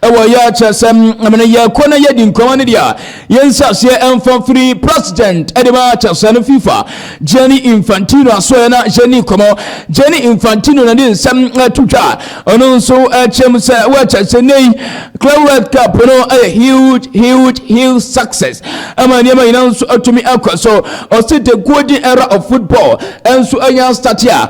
ɛwɔ yɛ kyerɛ sɛ ɛmɛ no yɛkɔ na yɛdi nkɔmɔ no deɛ yɛnsi aseɛ ɛmfa firi president ɛde ma kyerɛ sɛ no fifa Gianni Infantino asoɛ na yɛni nkɔmɔ Gianni Infantino na de nsɛm ɛto twa ɔno nso ɛkyɛm sɛ wɔkyerɛ sɛ nei Club World Cup no ɛyɛ huge huge huge success ɛma nneɛma nyinaa nso atumi akɔ so ɔsi the golden era of football ɛnso ɛnya start a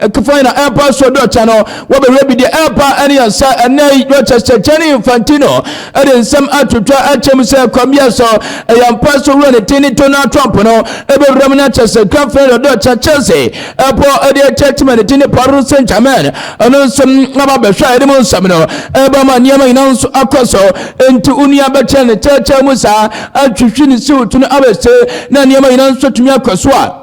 Ɛkefai na ɛɛpa so dɔkya no wɔbɛhwɛ bi deɛ ɛɛpa ɛne yɛn nsa ɛnɛ yi Rochester Gianni Infantino ɛde nsɛm atwitwa akyɛ mu sɛ ɛkwan biara so ɛyɛ ampa so wura ne ti ne Donald Trump no ɛbɛwura mu na kyɛ sɛ Gran Fernando dɔkya Chelsea ɛpɔ ɛde akyɛ tim ne ti ne Paris Saint-Germain ɛno nso aba bɛhwɛ a ɛde mu nsɛm no ɛba ma nneɛma nyinaa nso akɔ so enti onua bɛkyɛ ne kyɛkyɛ mu saa atwitwi ne siwtu no abɛse na nneɛma nyinaa nso tumi akɔ so a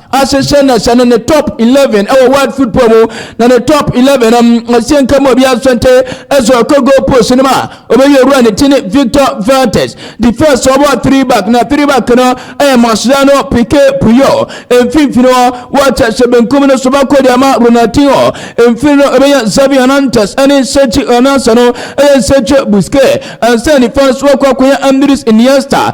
ahyehyɛ na hyɛ no ne top 11 wɔ world football mu na ne top 11 no ɛhyɛ nka mu obi asante ɛsɛ ɔkɔ goal post no mu a ɔbɛyɛ owura ne ti ne victor vantes defense ɔbɔ three back na three back no ɛyɛ mascherano pike puyo mfimfini hɔ wɔkyɛ hyɛ benkum no so bɛkɔ deɛ ma ronaldinho mfini no ɛbɛyɛ xavi hernandez ɛne sergio hernandez no ɛyɛ sergio busquets ɛnsɛ nifa so wɔkɔ akɔyɛ andres iniesta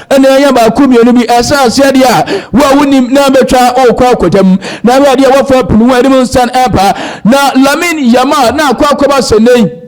Ɛnna ɛyɛ baako mmienu bi ɛsan aseɛ deɛ a wo a wonim na bɛtwa wokɔ akɔgyam na wei adeɛ wɔfa punu ho anim nsan ɛba na Lamin Yama na akɔ akɔba sɛ nnɛ yi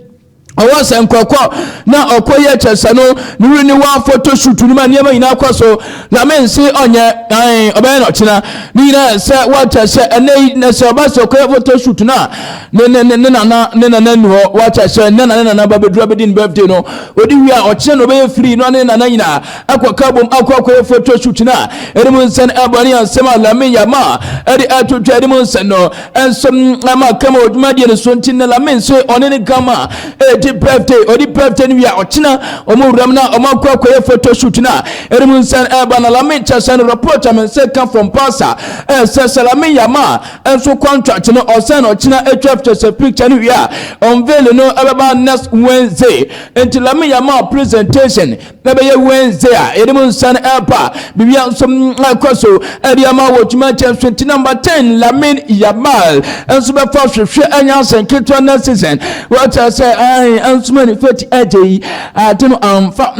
ɔwɔ sɛ nkɔkɔ na ɔkɔ yɛ kyɛ sɛ no ne wuri ne wɔn afoto sutu no ma nneɛma nyinaa kɔ so Lamin se ɔnyɛ ɛn ɔbɛyɛ na ɔkyena ne nyinaa sɛ wɔkyɛ sɛ ɛnɛ yi na sɛ ɔba sɛ ɔkɔ yɛ foto sutu no a ne ne ne ne nana ne nana ni hɔ wakyɛ sɛ ne nana ne nana ba bɛduru abɛdi ne birthday no ɔdi wie a ɔkyena na ɔbɛyɛ firi no ne nana nyinaa akɔ ka bom akɔ akɔyɛ photo shoot no a ɛde mu nsɛn ɛbɔ ne ansɛm a lame yama ɛde atwotwa ɛde mu nsɛn no ɛnso ama kama ɔdwuma deɛ no so nti na lame nso ɔne ne gama ɛdi birthday ɔdi birthday no wie a ɔkyena ɔmo wuram na ɔmo akɔ akɔyɛ photo shoot no a ɛde mu nsɛn ɛba na lame kyɛ sɛ no report a me nsɛ ka from pasa ɛsɛ sɛ lame yama nso contract no ɔsɛn no ɔkyena atwa kyɛ sɛ picture no wie a unveil no ɛbɛba next wednesday nti lami yɛ ma presentation na ɛbɛyɛ wednesday a yɛde mu nsa no ɛba biribi nso ɛkɔ so ɛde ama wɔ twuma kyɛn so nti number ten lamin yamal nso bɛfa hwehwɛ ɛnyɛ asɛn ketewa next season wɔkyɛ sɛ ɛn nso mani fɛti ɛgye yi ade no amfa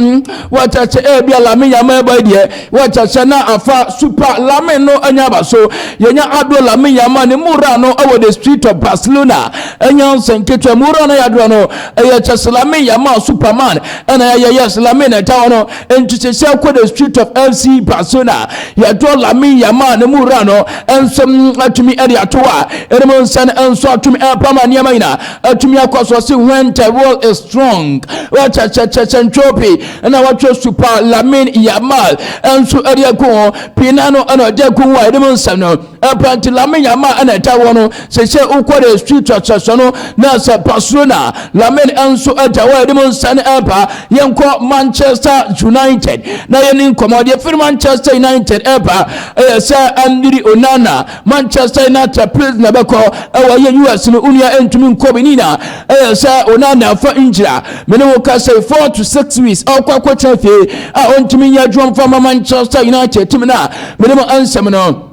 wɔkyɛ sɛ ɛbi a lami yamal ɛbɔ deɛ Wɔkyɛkyɛ na afa Super Lamin no anya aba so. Yɛnya Adro Lamin Yamal ne mu wura no wɔ the street of Barcelona. Anya nsɛ nketewa mu wura no yɛ adro no. Ɛyɛ kyɛs Lamin Yamal Superman ɛna yɛyɛ yes Lamin na ɛta hɔ no. Nti kyɛkyɛ kɔ the street of FC Barcelona. Yɛdro Lamin Yamal ne mu wura no nso atumi ɛde ato a ɛnum nsɛ no nso atumi ɛpam a nneɛma nyina atumi akɔ so ɔse when the world is strong. Wɔkyɛkyɛkyɛkyɛ ntwopi. ɛna wɔatwerɛ super lamin yamal nso de ako ho pii na no ɛna ɔgye ako ho a ɛde mu nsɛm no ɛpranti lamin yamal ɛna ɛta wɔ no sɛ sɛ wokɔ de street trɔtrɔsɔ no na sɛ barcelona lamin nso ɛta wɔ ɛde mu nsɛm no ɛpa yɛnkɔ manchester united na yɛne nkɔmmɔ deɛ firi manchester united ɛpa ɛyɛ sɛ andiri onana Manchester United players na bɛkɔ ɛwɔ yɛ US no onua ɛntumi nkɔ bi nina ɛyɛ sɛ ɔna na afa ngyina mene wo ka sɛ four to six weeks ɔkɔ akɔkyerɛ fie a ɔntumi nyɛ adwuma mfa ma Manchester United tim no a mene mo ansɛm no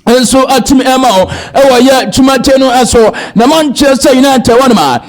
nso atumi ɛma wo ɛwɔ yɛ dwumadie no ɛso na Manchester United wɔnom a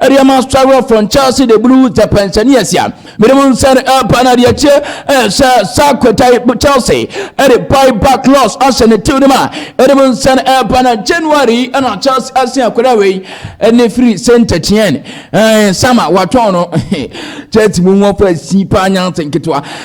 Ɛdeɛ ma sɔrɔ fɔn Chelsea de bulu tɛ pɛnsɛni ɛsia. Mede mu nsɛn ɛpa na deɛ kyɛ ɛsɛ saa kwɛtai Chelsea ɛde buy back loss ahyɛ ne tiw no ma. Ɛde mu nsɛn ɛpa na January ɛna Chelsea asen akwadaa wei ɛne firi Saint Etienne. Ɛɛ sama watɔn no. Chelsea mu nwɔfra si paa nyansa nketewa.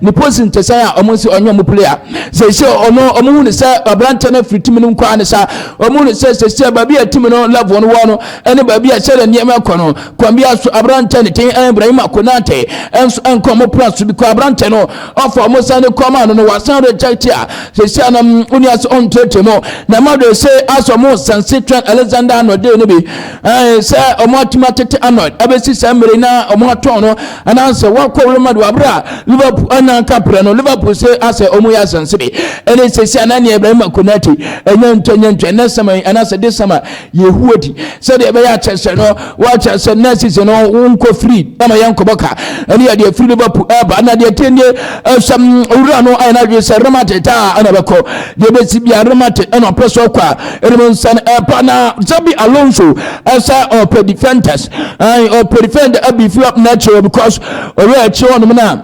Ne posi ntesɛn a wɔn si ɔnye wɔn play a sɛsɛ ɔno wɔn hu ne sɛ aberanteɛ no afiri timi no nkoraa ne sa wɔn hu ne sɛ sɛsɛ baabi a timi no level no wɔ no ɛne baabi a sɛdeɛ nneɛma ɛkɔ no kwan bi aso aberanteɛ ne ten Ibrahim Konate ɛnso ɛnkɔ wɔn plan so bi kɔ aberanteɛ no ɔfa wɔn san ne kɔn maa no no wasan reject a sɛsɛ anam oni ase ɔntrɛtrɛ mu na ɛma do ɛsɛ asɔ wɔn sanse twɛn Alexander Anode no bi ɛɛ sɛ wɔn atumi atete Anode ɛbɛsi sɛ mmere na wɔn atɔn no anaasɛ wakɔ Real Madrid abere a Liverpool anya nka pere no Liverpool se asɛ ɔmo yɛ asɛnsebe ɛne sɛsi anani Ibrahima Konate ɛnyɛ ntɔ ɛnyɛ ntɔ ɛnɛ sama yi anaasɛ de sama yɛhuo di sɛdeɛ ɛbɛyɛ akyɛsɛ no wakyɛ sɛ next season no wonkɔ free ama yɛn kɔbɔ ka ɛne yɛ deɛ firi Liverpool ɛba na deɛ tie nie ɛsɛm wura no ayɛ no adwene sɛ remate taa ɛna bɛkɔ deɛ bɛsi bia remate ɛna ɔpɛ so kɔ a ɛnum nsɛn ɛpa na zabi alonso ɛsɛ ɔpɛ defenders ɛn ɔpɛ defender ɛbi fi up natural because ɔyɛ ɛkyɛ ɔnum na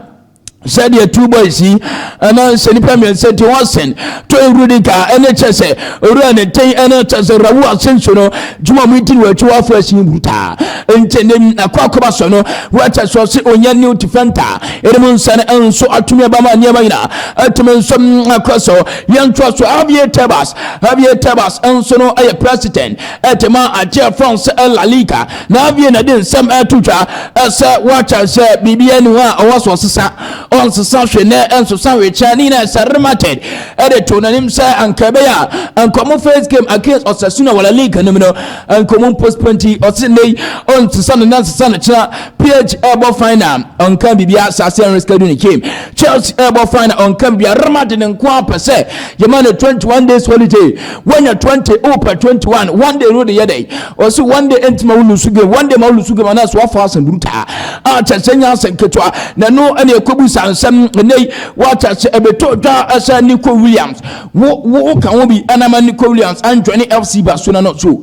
sɛdeɛ two boys yi ɛna sɛ nipa mmiɛnsa ti wɔn sɛn to ewurudi ka ɛne kyɛ sɛ ewura ne ten ɛne kyɛ sɛ rawu ase nso no juma mu ti wɔ akyi afɔ ɛsi wutaa nti ne akɔ akɔba so no wɔkyɛ sɛ ɔsi onye new defender ɛnum nsɛn nso atumi ɛbama nneɛma nyinaa ɛtumi nso akɔ so yɛn to so abie tɛbas. Javier Tebas nso no yɛ president de ma agyeɛ France La Liga. Na Javier na de nsɛm ɛto dwa sɛ wɔkyɛ sɛ biribiara ni hɔ a ɔwɔ so ɔsesa. Ɔnsesa hwe nɛ ɛnsesa hwe kyɛ. Ne nyinaa ɛsɛ Real Madrid de to n'anim sɛ anka ɛbɛyɛ a anka ɔmo first game against Osasuna wɔ La Liga no mu no anka ɔmo postpone nti ɔse nnɛ yi ɔnsesa no na nsesa no kyena. PSG ɛbɔ final ɔnka biribiara saa sɛ ɛnreschedule ne game. Chelsea ɛbɔ final ɔnka bia Real Madrid nko ara pɛ sɛ yɛma no 21 days holiday wɔnyɛ 20 wopɛ 21 one day no de yɛ dɛ ɔsi one day ɛntuma wo lusu game one day ma wo lusu game anaasɛ wafa asɛm brutaa a kyɛ sɛ nya asɛm ketewa na ɛno ɛne ɛkɔbu sa nsɛm ɛnɛ yi wɔakyɛ sɛ ɛbɛtɔ dwa ɛsɛ Nico Williams wo wo ka ho bi ɛnama Nico Williams anjoine FC Barcelona no so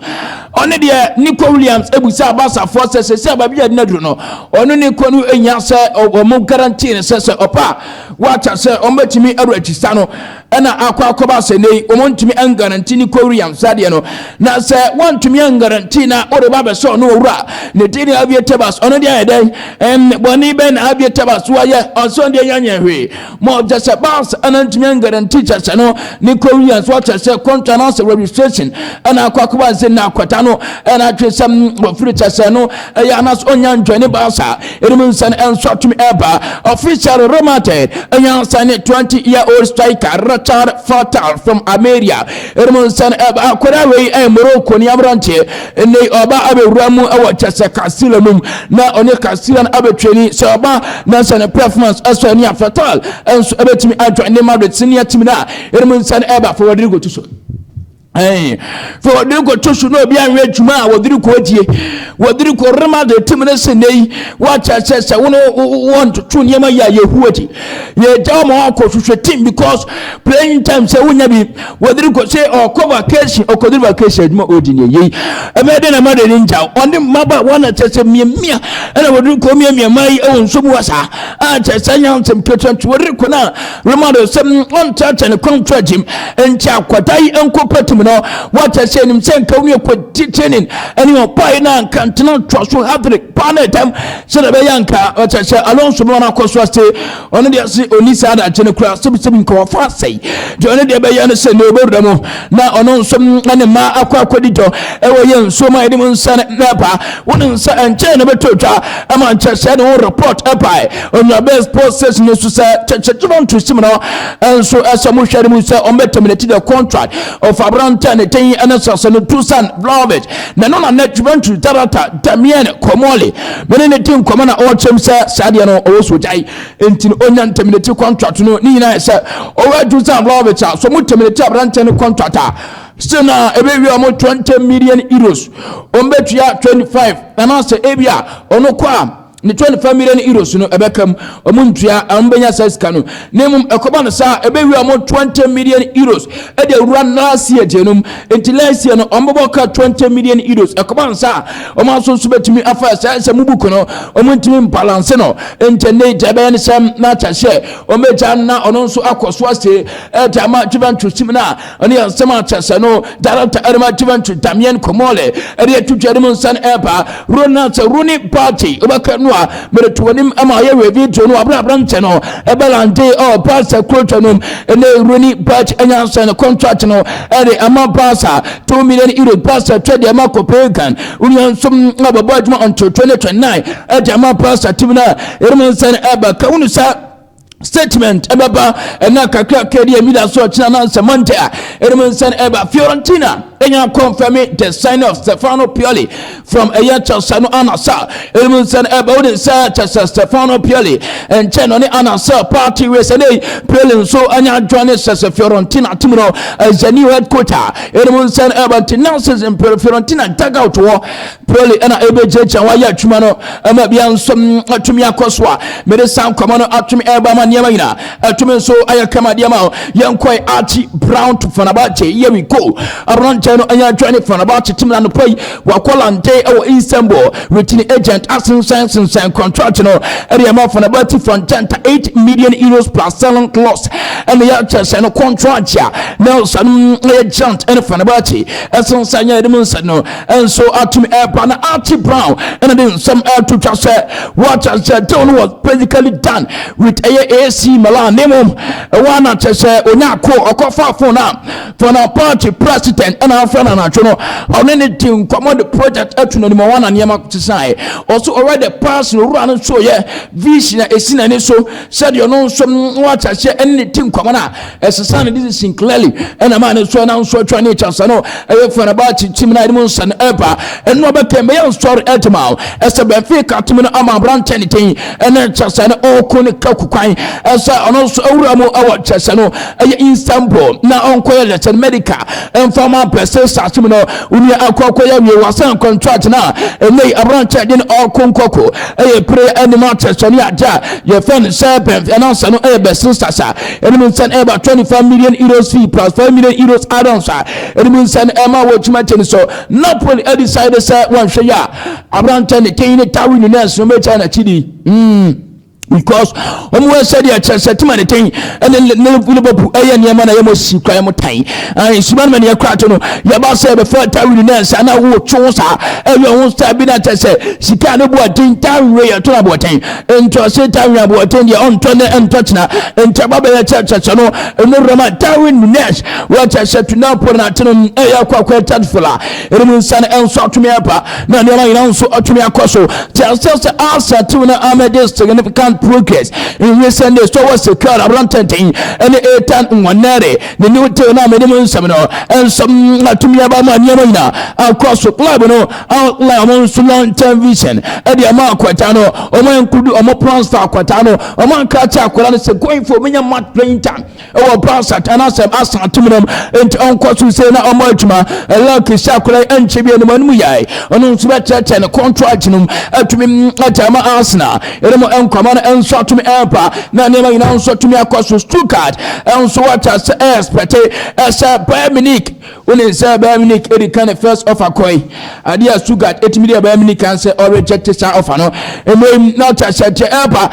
Ɔno deɛ Nico Williams ebusaa Barcafoɔ sɛ sɛsɛ a baabi a ɛdina duro no ɔno ne kɔ no ehia sɛ wɔn guarantee no sɛ sɛ ɔpɛ a wɔakyɛ sɛ wɔn bɛtumi awura akyisa no ɛna akɔ akɔba sɛ nɛyi wɔn ntumi ɛngaranti Nico Williams saa deɛ no na sɛ wɔntumi ɛngaranti na wɔde ba abɛsɛ ɔno ɔwura ne din ne Aviator Bus ɔno deɛ ayɛ dɛn ɛn bɔne bɛn na Aviator Bus wɔayɛ ɔsɔn deɛ yɛnyɛ hwee ma ɔkyɛ sɛ bus ɛna ntumi ɛngɛrɛnti kyɛ sɛ no ne kɔ wia nso ɔkyɛ sɛ kɔntwa no asɛ registration ɛna akɔ akɔba nse na akwata no ɛna atwe sɛ ɔfiri kyɛ sɛ no ɛyɛ anas ɔnya ntwɛne bus a ɛnum nsɛn ɛnso atumi ɛba official remated ɛnya nsɛn ne 20 year old striker Richard Fatal from Ameria ɛnum nsɛn ɛba akɔda wei ɛyɛ Morocco ne aberanteɛ Ɛnnɛ yi ɔba abɛwura mu wɔ kyɛsɛ Castilla no mu na ɔne Castilla no abɛtwani. Sɛ ɔba na sɛ ne performance ɛsɔ ani a, Fatal nso ɛbɛtumi adwane ne Madrid senior team no a ɛnum nsa no ɛba fa wɔde regoto so. Ɛn, fa wɔde regoto so na obi anwɛ adwuma a wɔde rego adie. Wɔde rego Real Madrid team no sɛ nnɛ yi wɔakyɛ sɛ sɛ wo ne wɔntoto nneɛma yi a yɛhu akyi. Yɛgya wɔn akɔ hwehwɛ team because playing time sɛ wonya bi wɔdiri kɔ sɛ ɔkɔ vacation ɔkɔdiri vacation adwuma ɔdi ne yei ɛbɛyɛ dɛ na mada ni ngya ɔne mmaba wɔn akyɛ sɛ mmiamia ɛna wɔdiri kɔ mmiamia maa yi ɛwɔ nso mu wasaa a kyɛ sɛ nya nsɛm ketewa nti wɔdiri kɔ na roma do sɛ ɔnkyɛkyɛ ne kɔn to agyim nti akɔda yi nkɔ patum no wɔakyɛ sɛ anim sɛ nka wɔn akɔ titinin ɛne ɔbaa yi na nka ntena toa so hadiri paa na ɛdɛm sɛ na ɛbɛyɛ nka ɔkyɛ sɛ alonso mmerɛ no akɔ so ase ɔno deɛ se ɔni saa adagye no koraa sɛbisɛbi nka wafa asɛe deɛ ɔno deɛ bɛyɛ no sɛ ne ɔbɛwura mu na ɔno nso ne mmaa akɔ akɔdi dɔ ɛwɔ yɛ nsuo ma yɛde mu nsa no na ɛba wo ne nsa ɛnkyɛn na bɛtɔ dwa ɛma nkyɛ sɛ ne ho report ɛbae ɔnuabɛs post station no so sɛ kyɛkyɛkyɛma nto sim no nso ɛsɛ mo hwɛ no mu sɛ ɔmbɛtɛminati the contract of aberantɛ ne ten ɛne sase no tusan vlovit na ɛno na nɛ juventus darata damien kɔmɔle me ne ne di nkɔmɔ na ɔkyɛm sɛ saa deɛ no ɔwɔ so gyae nti no ɔnya ntaminati contract no ne nyinaa sɛ ɔwɔ adwuma sɛ lɔbit a so mo taminati aberanteɛ no contract a still na ɛbɛwie ɔmo 20 million euros ɔmo bɛtua 25 anaasɛ ebi a ɔno kɔ a ne 25 million euros no ɛbɛka mu ɔmo ntua ɔmo bɛnya sɛ sika no na mmom ɛkɔba no saa a ɛbɛwie a wɔn 20 million euros de awura last year gye nom nti last year no wɔbɛbɔ ka 20 million euros ɛkɔba no saa a wɔn aso nso bɛtumi afa ɛsɛ sɛ mu buku no wɔn ntumi mbalanse no nti ne gya bɛyɛ no sɛm na akyɛ sɛ wɔn bɛgya na ɔno nso akɔ so ase ɛde ama Juventus team no a ɛne asɛm a kyɛ sɛ no director ɛrema juventus damien komole ɛde atwitwa anim nsa no ɛreba ronald sɛ roni bagye wobɛka no a mede to anim ma yɛwɛ video no aberɛ aberantɛ no ɛbɛlande ɔ barca kurotwa nom ɛnɛ roni bagye anya nsɛn no contract no ɛde ama barca 2 million euro barca twɛ deɛ ma copenhagen wonia nsom na bɛbɔ adwuma until 2029 ɛde ama barca tim no a ɛrema nsa no ɛreba ka wonu sɛ statement ɛbɛba ɛna kakrakra deɛ mida so ɔkyena nansɛ monte a ɛnom nsɛn ɛba fiorentina ɛnya kɔmfɛme the sign of stefano pioli from ɛyɛ chelsea no anasa ɛnom nsɛn ɛba wode sɛ chelsea stefano pioli ɛnkyɛ no ne anasa party wei sɛ nei pioli nso anya adwa ne sɛ sɛ fiorentina tim no ɛyɛ new headquarter ɛnom nsɛn ɛba nti now season fiorentina dugout wɔ Poli ɛna ɛbɛgyagya wayɛ adwuma no ɛma bia nso atumi akɔ so a mede saa nkɔmɔ no atumi ɛba ma nneɛma nyinaa atumi nso ayɛ kama deɛ ma yɛnkɔe akyi brown to fanabache here we go aberanteɛ no ɛyɛ adwa ne fanabache tim na nopɛ yi wakɔ lante ɛwɔ istanbul retini agent asensɛn sensɛn contract no ɛde ɛma fanabache fantanta 8 million euros plus selling clause ɛne yɛkyɛ sɛ no contract a nelson ɛyɛ giant ɛne fanabache ɛsensɛn yɛ ɛde mu nsɛ no nso atumi ɛreba na Archie Brown ɛna de nsɛm ɛreto twa sɛ wɔakyɛ sɛ deal no was basically done with ɛyɛ AC Milan ne mu ɛwɔ ana kyɛ sɛ onya ako ɔkɔfa fon a fon a party president ɛna afra na anadwo no ɔne ne di nkɔmɔ de project ɛto n'anim ɔwɔ ana nneɛma sesae ɔso ɔwɛ de pass no owura no nso yɛ vision a esi n'ani so sɛdeɛ ɔno nso wɔakyɛ sɛ ɛne ne di nkɔmɔ no a ɛsesa ne decision clearly ɛna maa ne sɔre na nsɔre twa ne kyasa no ɛyɛ Fenerbahce team na ɛde mu nsɛm ɛba ɛno ɔbɛka mbɛyɛ nsɔre ɛtema o ɛsɛ Benfica team no ama aberanteɛ ne ten ɛna kyasa no ɔɔko ne kaku kwan ɛsɛ ɔno nso awura mu ɛwɔ kyasa no ɛyɛ Istanbul na ɔnkɔyɛ lɛsɛn medica ɛmfa ma pɛsɛ saase mu no onua akɔkɔ yɛ wie wasan contract na ɛnɛ yi aberanteɛ de no ɔɔko nkɔko ɛyɛ pere ɛne ma kyasa no yɛ adeɛ a yɛfɛ no sɛ bɛnfi ɛnansa no ɛyɛ bɛsere sasa Ɛnum nsa no ɛba twenty five million euros fee plus five million euros add-ons a ɛnum nsa no ɛma wɔ twuma kyɛ no so. Napoli ɛdecide sɛ wɔnhwɛ yɛ a aberantɛ ne tɛn ne tawe ne nɛɛs no mɛkyɛ n'akyi di. Mm. because wɔn wɔ sɛ deɛ kyerɛ sɛ tema ne ten ɛne ne liverpool ɛyɛ nneɛma na yɛmɔ si kwan mu tan ɛn suma no yɛ kora to no yɛba sɛ bɛfɛ tawi ne nsa na wo two saa ɛyɛ wɔn star bi na kyerɛ sɛ sika ne bu ɔden tawi yɛ to na bu ɔden ntɔ seta hwɛ aboɔten deɛ ɔntɔ ne ntɔ tena nkyɛba bɛyɛ kyɛ kyɛkyɛ no ɛno rama darwin nunes wɔkyɛ hyɛ tuna pɔ na atene mu ɛyɛ kɔ akɔ ɛkyɛ fola ɛnum nsa no ɛnso atumi aba na nneɛma nyinaa nso atumi akɔ so te aseɛ sɛ asa tew na amɛde significant progress in recent days tɔwɔ secure aberantɛntɛn ɛne etan nwanɛre ne new tew na amɛde mu nsɛm no ɛnso atumi aba ma nneɛma nyinaa akɔ so club no outline ɔmo nso long term vision ɛde ama akwata no ɔmo include ɔmo plans for akwata no ɔmo ankara kyɛ akwara no sɛ going for ɔmo nya mat painter ɛwɔ plans ata na asɛm asa atum nom nti ɔnkɔ so sɛ na ɔmo adwuma ɛlɛ kesi akwara ɛnkyɛ bi ɛnum ɛnum yɛ ɔno nso bɛkyerɛkyerɛ ne contract nom ɛtumi ɛkyɛ ama asena ɛnum ɛnkɔma no ɛnso atumi ɛmpa na nneɛma nyinaa nso atumi akɔ so stuttgart ɛnso wɔkyɛ sɛ ɛɛspɛte ɛsɛ bayern munich Wonim sɛ Bayern Munich adi kan de first offer kɔe, ade a Stuttgart tumi de a Bayern Munich kaa sɛ ɔrejɛkte saa offer no. Mmom yi, na ɔte aseɛ akyerɛ Earpa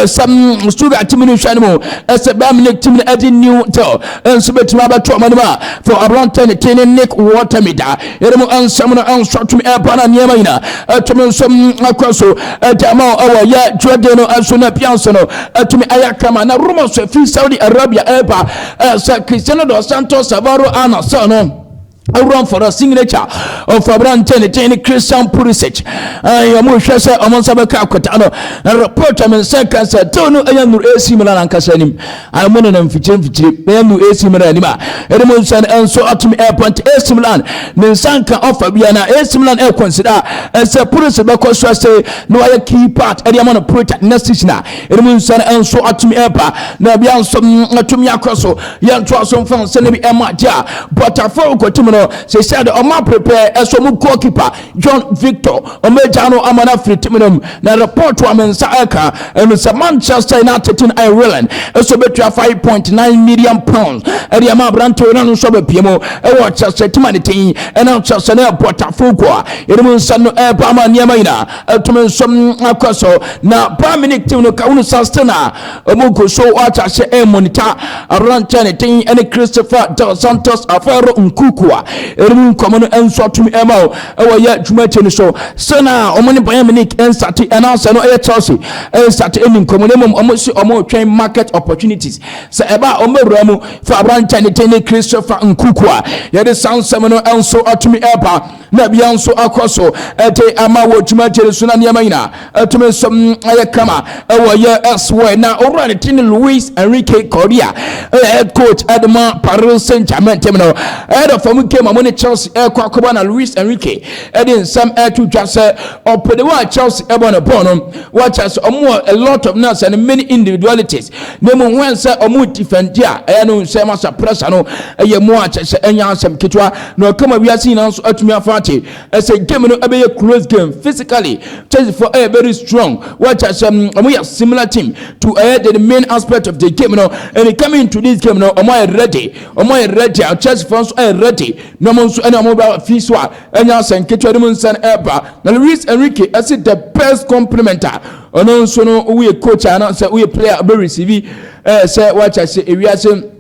sɛ Stuttgart timi no nhwɛ anim sɛ Bayern Munich timi no agye New Deal nso bɛtumi abɛto wɔn anim a fɔ aberantɛ ne tee ne Nick Watermead a yɛne mu nsɛm no nso atumi Earpa na nneɛma nyina atumi nso akɔ so agya ma wɔ yɛ dwuadie no nso na pianse no atumi ayɛ kama na rumors fi Saudi Arabia Earpa Sɛ Cristiano dos Santos Savaro a n'asɛm no awura mfɔdɔ signature ɔfɔ aberante ne din ne Christian Pulisic ɛyɛ mo hwɛ sɛ ɔmo nsa bɛka akɔta no na report ɔmo nsa ka sɛ deal no ɛyɛ nuru AC Milan ankasa anim ɛmo ne na mfikyiri mfikyiri ɛyɛ nuru AC Milan anim a ɛde mo nsa nso atumi ɛpɔnte AC Milan ne nsa nka ɔfa bia na AC Milan ɛkɔnsida ɛsɛ Pulisic bɛkɔ so ase na wayɛ key part ɛde ama no Pulisic next season a Ɛnum nsɛn nso atumi ɛba na bia nso mm, atumi akɔ so yɛ ntoa so mfa nsɛn no bi ɛma agye a bɔtafo kɔtim no sɛ sɛ de ɔma prepare ɛso mu goalkeeper John Victor ɔma agya no ama no afiri tim no mu na report a me nsa ɛka ɛno sɛ Manchester United tin Ireland ɛso bɛtua 5.9 million pounds ɛde ama aberante ɔna no nso bɛpie mu ɛwɔ kyɛsɛ tim a ne tin ɛna kyɛsɛ no ɛbɔtafo kɔ a ɛnum nsɛn no ɛba ama nneɛma nyinaa ɛtumi nso akɔ so na bayern munich team no ka wonu sa sten a ɔmu gu so ɔakyɛ ahyɛ ɛmonita aberanteɛ ne den ɛne christopher del santos afɛro nkuku a ɛnum nkɔmɔ no nso atumi ɛma o ɛwɔ yɛ dwumadie no so sɛ na ɔmo ne bayern munich nsate ɛnaasɛ no ɛyɛ chelsea ɛnsate ɛni nkɔmɔ no mmom ɔmo si ɔmo twɛn market opportunities sɛ ɛba a ɔmo awura mu fa aberanteɛ ne den ne christopher nkuku a yɛde saa nsɛm no nso atumi ɛba na bia nso akɔ so de ama wɔ dwumadie no so na nneɛma nyinaa atumi nso ayɛ kama ɛwɔ yɛ ɛsoɛ na owura ne din Luis Enrique Correa ɛyɛ head coach ɛde ma Paris Saint Germain tɛm no ɛyɛ fam game ɔmo ne Chelsea ɛkɔ akɔbɔ na Luis Enrique ɛde nsɛm ɛto dwa sɛ ɔpɛde wɔ a Chelsea ɛbɔ ne bɔɔl no wɔkyɛ sɛ ɔmo wɔ a lot of nurse and many individualities na mmom wɔn sɛ wɔn tifɛnti a ɛyɛ no nsɛm asa prɛsa no ɛyɛ mu a kyɛ sɛ ɛnyɛ asɛm ketewa na ɔka ma wiase nyinaa nso atumi afa ate ɛsɛ game no ɛbɛyɛ close game physically Chelsea for ɛyɛ very strong wɔkyɛ sɛ wɔn yɛ similar team to ɛyɛ the main aspect of the game no and coming to this game no wɔn ayɛ ready wɔn ayɛ ready a Chelsea for nso ayɛ ready na wɔn nso ɛna wɔn bɛ fi so a ɛnyɛ asɛm ketewa no mu nsɛm ɛba na Luis Enrique ɛsi the best complimenter Ɔno nso no woyɛ coach a na sɛ woyɛ player ɔbɛ receive ɛɛ sɛ wakyɛ sɛ ewiase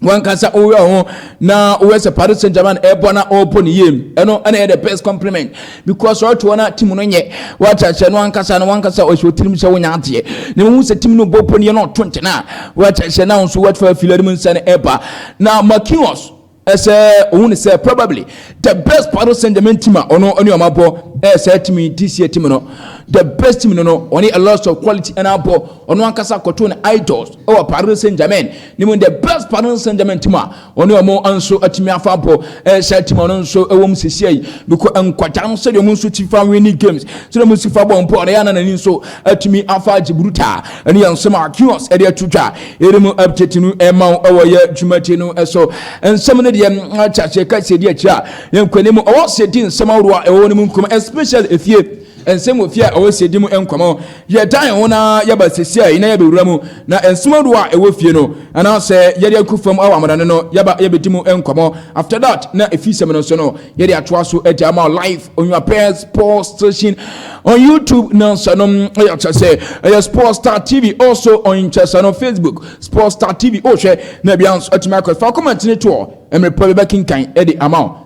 wankasa woyɛ ho na woyɛ sɛ Paris Saint Germain ɛbɔ na ɔbɔ ne yie ɛno ɛna yɛ the best compliment because ɔte wɔn a team no nyɛ wakyɛ sɛ no wankasa no wankasa ɔhyɛ otirim sɛ wonya adeɛ na wɔn sɛ team no bɔ pɔ ne yɛ na ɔto nkyɛn a wakyɛ sɛ na nso wɔte fɛ afilɛ no mu nsɛn ɛba na Marquinhos ɛsɛ ohun ne sɛ probably the best part sɛ german team a ɔno ɔne ɔmo abɔ ɛyɛ saa team yi this year team no the best team no no ɔne a lot of quality ɛna abɔ ɔno ankasa kɔto ne idols ɛwɔ paris saint germain ne mu the best part sɛ german team a ɔne ɔmo nso atumi afa abɔ ɛyɛ saa team ɔno nso ɛwɔ mu sisi ayi because nkwadaa no sɛdeɛ ɔmo nso ti fa winning games sɛdeɛ ɔmo nso fa bɔ mpɔ ɔno yɛ ananani nso atumi afa agye burutaa ɛne yɛn nsɛm a kios ɛde ato dwa ɛde mu update no ɛma wo ɛwɔ yɛ dwumadi no ɛso nsɛm no deɛ ate aseɛ ka sɛ di akyirɛ a yɛn kwani mu ɔwɔ sɛ di nsɛm ahorow a ɛwɔ no mu nkɔmɔ especially efie nsɛm wɔ fie a ɛwɔ sɛ di mu nkɔmɔ yɛda yɛn ho na yɛba sisiɛ na yɛbɛwura mu na nsɛm ahorow a ɛwɔ fie no anaasɛ yɛde akɔ fam awɔ amana no no yɛba yɛbɛdi mu nkɔmɔ after that na efi sɛm no so no yɛde atoa so ɛde ama o live on your pairs sports station on youtube na nsanom ɛyɛ akyɛ sɛ ɛyɛ sports star tv also on nkyɛsɛ no facebook sports star tv ɔhwɛ na bia nso atumi akɔ fa kɔmɛntene toɔ mmerepɔ bɛbɛkenkan ɛde ama o